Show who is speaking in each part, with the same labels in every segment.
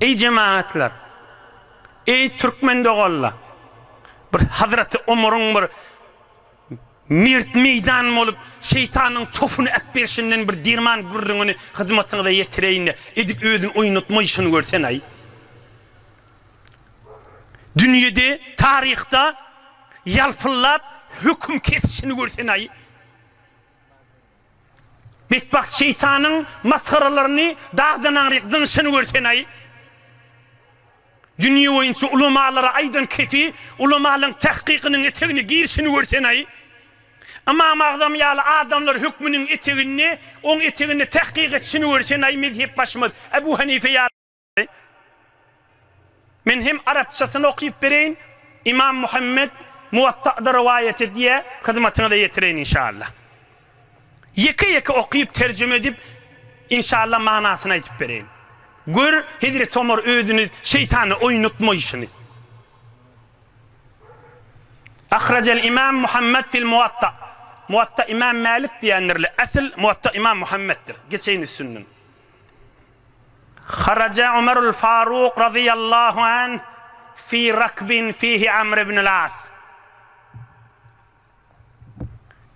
Speaker 1: Eý jemagatlar! Eý türkmen doganlar! Bir Hazraty Omaryň bir mert meýdan bolup şeýtanyň tofuny äpberşinden bir derman gürrüňini hyzmatyňyza ýetireýin-de, edip özüni oýnatmaýşyny görsen-aý! Dünýede, taryhda ýalpyllap höküm kesişini görsen-aý! Betbagt şeýtanyň masgaralaryny dagdan aňryk zyňşyny görsen-aý! Dünýe boýunça ulamalara aýdan kefi ulamalyň tahkykynyň etegine girişini görsen-aý! Ymam Agzam ýaly adamlar hökmüniň eteginde oň eteginde tahkyk etişini görsen-aý! Mezhep başymyz Ebu Hanife ýaly. Men hem arapçasyny okyp bereýin, Ymam Muhammet Muwatta'da rowaýat edýär, hyzmatyňyza ýetireýin inşallah. Ýeke-ýeke okyp terjime edip, inşallah manasyny aýdyp bereýin. Gör, Hezreti Omar özüni şeýtana oýnatmaýşyny. Ahrajal Ymam Muhammet fil Muwatta. Muwatta Ymam Mälik diýendirler. Asyl Muwatta Ymam Muhammetdir. Geçeýin üstünden. Haraja Omarul Faruk razyýallahu anh fi rakbin fihi Amr ibnul As.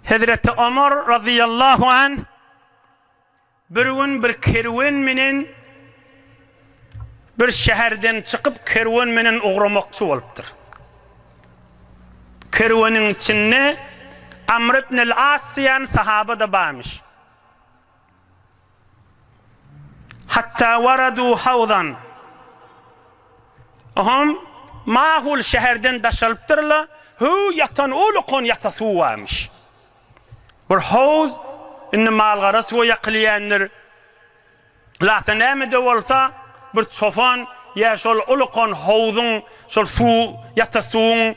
Speaker 1: Hezreti Omar razyýallahu anh bir gün bir kerwen menen bir şäherden çykyp kerwen menen ugramakçy bolupdyr. Kerweniň içinde Amr ibnul As diýen sahaba-da barmyş. Hatta waradu hawzan. Oňam mahul şäherden daşalypdyr-la, höw ýatan uly kon ýata suw barmyş. Bir howz, indi mal-gara suwa ýakylýändir. Lata näme-de bolsa, bir çopan ýa şol uly kon howzuň, şol suw, ýata suwuň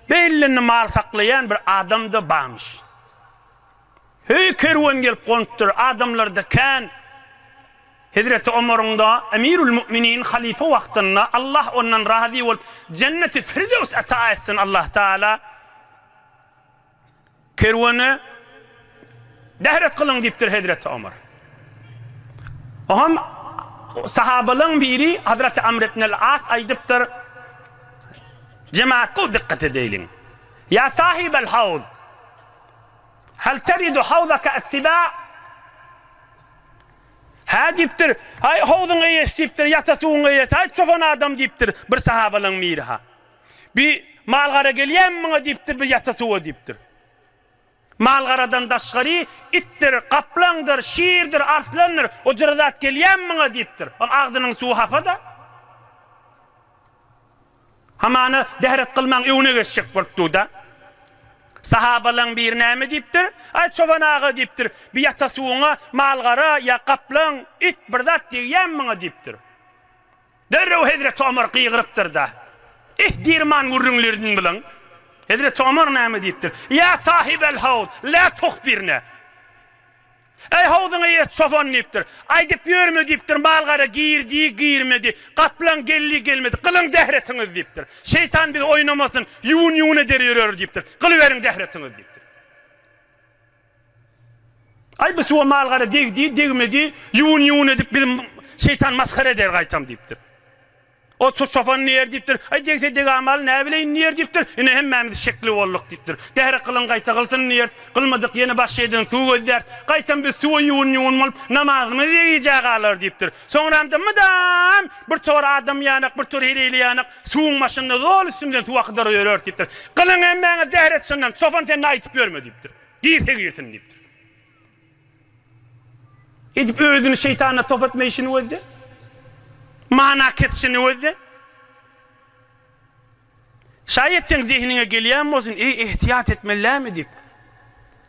Speaker 1: belinde mal saklaýan bir adam-da barmyş. Heý, kerwen gelip gonupdyr, adamlar-da kän. Hezreti Omaryň-da, Emirül Mu'minin, halyfa wagtynda, Allah ondan razy bolup, Jenneti Firdews ata etsin Allah Taala, kerwene dehret kylyň diýipdir hezreti Omar. Oňam sahabalaryň biri Hazreti Amr ibn al-As aýdypdyr, Jemaat gowy dykgat edeýliň. Ýa sahibel hawz! Hal teridu hawzaka as-siba? Hä diýipdir, Aý, howzuň eýesi diýipdir, ýata suwuň eýesi, aý, çopan adam diýipdir bir sahabalaň biri-ha. Bi mal-gara gelýämi muňa diýipdir, bir ýata suwa diýipdir. Mal-garadan daşgary itdir, gaplaňdyr, şirdir, arslandyr, ojara zat gelýämi muňa diýipdir. Ol agzynyň suwy hapa-da. Hamana, Dehret kylmaň, öňüne geçjek bolup dur-da. Sahabalaň biri näme diýipdir? Aý, çoban aga, diýipdir, bir ýata suwuňa mal-gara ýa gaplaň, it bir zat degýämi maňa? diýipdir. Derrew hezreti Omar gygyrypdyr-da, Ih, dirman gürrüňlerini bilen! Hezreti Omar näme diýipdir? Ýa sahibel-hawz, lä tuhbirne! Äý, howzuňa ýet, çopan! diýipdir. Aýdyp ýörme diýipdir, mal-gara girdi, girmedi, gaplaň geldi, gelmedi. Gylyň zähretiňizi diýipdir. Şeýtan bizi oýnamasyn, ýuwun-ýuwun eder ýöreris diýipdir. Gylyberiň zähretiňizi diýipdir. Aý, bu suwa mal-gara degdi, degmedi, ýuwun-ýuwun edip bizi şeýtan masgara eder gaýtam diýipdir. Otuz çopan diýer diýipdir. Aý, degse degamaly, näbileýin diýer diýipdir. Ine, hemmämiz şekli bolduk diýipdir. Däri kylyň gaýta kylsyn diýeris. Kylmadyk, ýene başga ýerden suw gözläris. Gaýtam biz suwa ýuwun-ýuwun bolup, namazymyzy degijä galarys diýipdir. Soňramda mydam bir tor adam ýanak, bir tor heleýli ýanak suwuň başynda zol üstümizden suw akydyryp ýöreris diýipdir. Kylyň hemmäňiz däret şondan, çopan sen-de aýdyp ýörme diýipdir. Girse girsin diýipdir. Edip özüni şeýtana top etme işini gözle. Mana kesişini gözle. Şaýat seň zehiniňe gelýän bolsun, eý ehtiýat etmellämi diýip.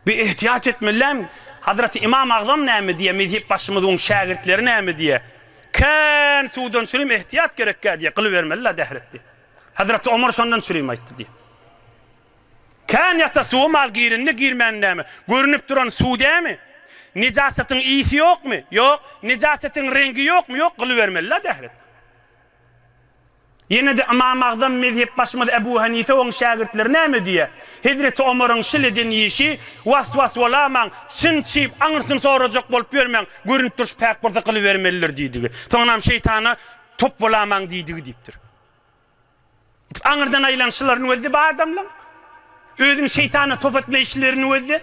Speaker 1: Bir ehtiýat etmellämi? Hazraty Ymam Agzam näme diýýär, mezhep başymyz oň şägirtleri näme diýýär? Kän suwdan çürim ehtiýat gerekkä diýýär, gylybermeli-la dähretdi. Hazraty Omar şondan çürim aýtdy diýýär. Kän ýata suwa mal girindi girmänidämi, görünip duran suw dämi? Nejasatyň ysy ýokmy? Ýok. Nejasatyň reňgi ýokmy? Ýok. Gylybermeli-la dährep. Ýene-de Ymam Agzam mezhepbaşymyz Ebu Hanife oň şägirtleri näme diýýär? Hezreti Omaryň şil eden işi, Was-was bolamaň, çyn çyp, aňyrsyny sorajak bolup ýörmäň, görünip durşy päk bolsa gylybermelidir diýdigi. Soňunam şeýtana top bolamaň diýdigi diýipdir. Aňyrdan aýlanyşlaryny gözde bu adamlaň. Özüni şeýtana top etme işlerini gözde.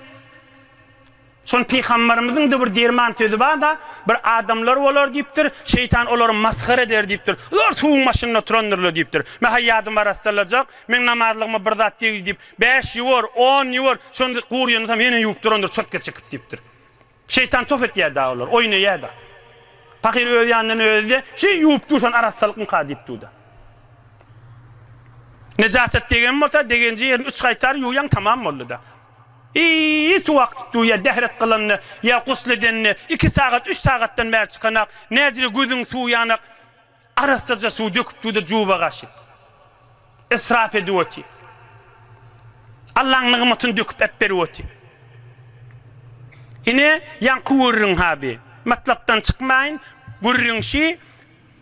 Speaker 1: Şony pygambarymyzyň-da bir derman sözi bar-da, Bir adamlar bolar diýipdir, şeýtan olary masgara eder diýipdir. Olar suwuň başynda oturandyrlar diýipdir. Mä-hä ýadyma arassalajak, meň namazlygma bir zat degdi diýip, bäş ýuwar, on ýuwar, şonda guryýanysam ýene ýuwup durandyr çotga çekip diýipdir. Şeýtan tof etýär-de olar, oýnaýar-da. Pahyr öz ýanyndan özi-de, Çy, ýuwup duşan arassalykmyka diýip dur-da. Nejaset degen bolsa, degenji ýerini üç gaýtar ýuwýaň, tamam boldy-da. Iý, suw akdyp durýar, dähret kylanda ýa gusl edende, iki sagat, üç sagatdan bäri çykanak, näzire gözüň suwy ýanak, Arassaja suw döküp suwda juba gaşy. Israf edip oty. Allaň nygmatyny döküp äpberip oty. Ine, ýaňky gürrüň ha bi. Matlapdan çykmaýyn. Gürrüň şi,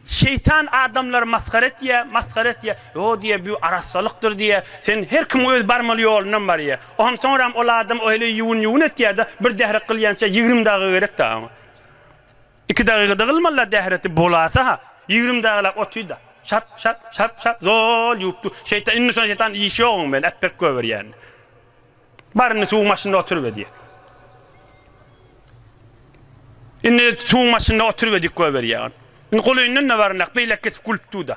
Speaker 1: Şeýtan adamlary masgara etýä, masgara etýä. Ýo diýýä, bü arassalykdyr diýýä. Sen her kim öz barmaly ýolundan barýä. Onam soňram ol adam o heleý ýuwun-ýuwun etýä-de, bir dährek gylýança ýigrimi daga gerek-dä oňa. Iki dagyga dygylmala dähreti bolasa-ha, ýigrim dagyla otyda. Şap, şap, şap, şap, zol ýuwup dur. Şeýta, indi şona şeýtan iş ýoguň meni äpbek göberýän. Bar indi suwuň başynda oturyp edýä. Indi suwuň başynda oturyp edik göberýän. Indi gulyndan-da baryndak beýlek geçip gülüp dur-da.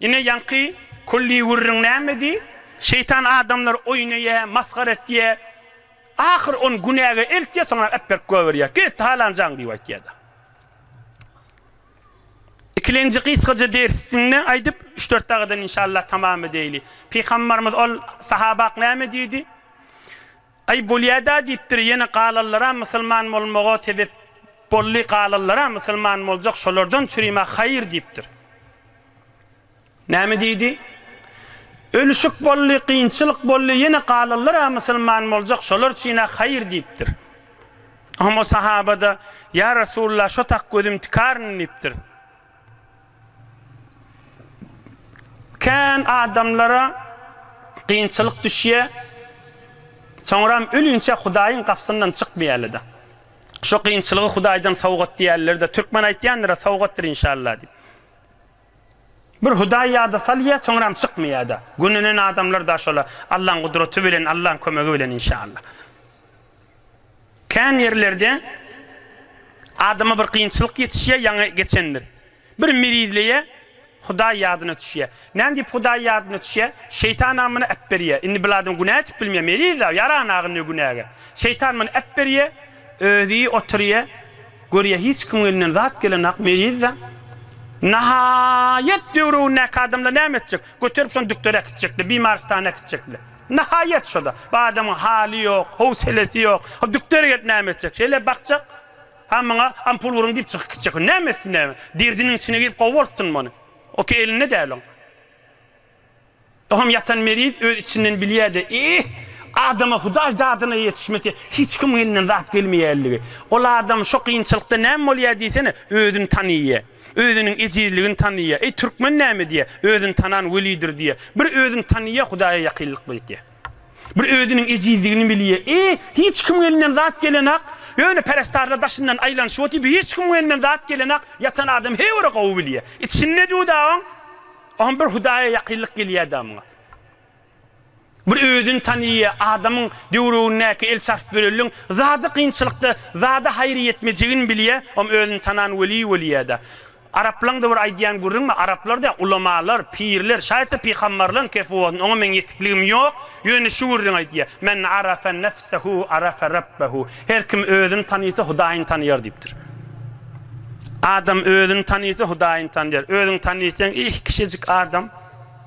Speaker 1: Ine ýaňky külli gürrüň nämedi? Şeýtan adamlar oýun öýe, masgara etýä. Ahyr on günäge eltýä, soňra äpberk güwä berýä. Git, halanjaň diýip aýtýada. Ikilenji gysgaja dersinde aýdyp, üç-dört dagadan inşallah tamam edeýli. Pygambarymyz ol sahabak näme diýdi? Aý bolýada diýipdir ýene galanlara musulman bolmaga sebep bolly galanlara musulman boljak şolardan çürime haýyr diýipdir. Näme diýdi? Ölüşik bolly kynçylyk bolly ýene galanlara musulman boljak şolar çyne haýyr diýipdir. Oňa sahaba-da, Ýa Resulalla şo tak gözüm tikaryn diýipdir. Kän adamlara kynçylyk düşýä, soňram ölünçä Hudaýyň gapysyndan çykmaýarlada. Şo kynçylygy Hudaýdan sowgat diýerlerde, türkmen aýtýandyra sowgatdyr inşallah diýip. Bir Hudaý ýada salýa, soňram çykmaýada. Gönenen adamlar daşola Allaň gudraty bilen, Allaň kömegi bilen inşallah. Kän ýerlerde adama bir kynçylyk ýetişýär, ýaňy geçendir. Bir mirizleýär, Hudaý ýadyna düşýär. Näme diýip Hudaý ýadyna düşýär? Şeýtan-a muny äpberýär. Indi bil adam günä etip bilmeýär, meriz-ä, ýaran-a indi günäge. Şeýtan muny äpberýär, özi oturýar, görýär, hiç kimiň elinden zat gelenok, meriz-ä. Nahaýat döwründäki adamlar näme etjek? Göterip şony dükdere äkitjekler, bimarystana äkitjekler. Nahaýat şo-da. Bu adamyň haly ýok, howselesi ýok. O dükdere gelip näme etjek? Şeýle bakjak. Ha muňa ampul guruň diýip çykyp gitjek. O näme etsin näme? Derdiniň içine girip gowy bolsunmy ony? O ki elinde däl oň. O hem ýatan meriz öz içinden bilýä-de, Eýh, adama Hudaý dadyna ýetişmese, hiç kimiň elinden zat gelmeýänligi. Ol adam şo kynçylykda näme bolýa diýsene, özüni tanaýýa. Özüniň ejizligini tanaýýar. Eý, türkmen näme diýýär? Özüni tanan welidir diýýär. Bir özüni tanaýýar, Hudaýa ýakynlykda ýetýär. Bir özüniň ejizligini bilýär. Eý, hiç kimiň elinden zat gelenok. Ýöne perestarlar daşyndan aýlanyşyp otyr, bu hiç kimiň elinden zat gelenok. Ýatan adam her biri gowy bilýär. Içinde diýu-da oň, oňa bir Hudaýa ýakynlyk gelýär-da muňa. Bir özüni tanyýa adamyň döwrügindäki el çarp bölelliň zady kynçylykda zada haýyr ýetmejegini bilýä om özüni tanan weli weliýada araplaňda bir aýdýan gürrüň bar araplar diýä ulamalar pirler şaýatda pyhammarlaň kefuwasyn oňa meň ýetikligim ýok ýöne şu gürrüň aýdýa men arafa nefsehu arafa rabbehu her kim özüni tanysa hudaýyny tanyýar diýipdir adam özüni tanysa hudaýyny tanyýar özüňi tanysaň eh kişejik adam.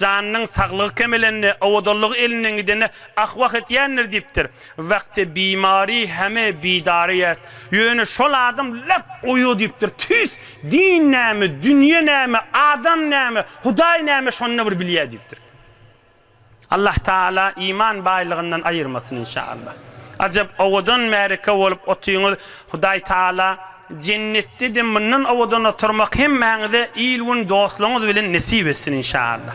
Speaker 1: Janynyň saglygy kemelende, owadanlygy elinden gidende ah-wah etýändir diýipdir. Wagty bimary heme bidary ýest. Ýöne şol adam lap goýy diýipdir. Tüýs, din näme, dünýe näme, adam näme, Hudaý näme şonda bir bilýär diýipdir. Allah Taala iman baýlygyndan aýyrmasyn inşaallah. Ajap owadan märeke bolup otyňyz Hudaý Taala. Jennetde-de mundan owadan oturmak hemmäňize il-gün dostlaryňyz bilen nesip etsin inşallah.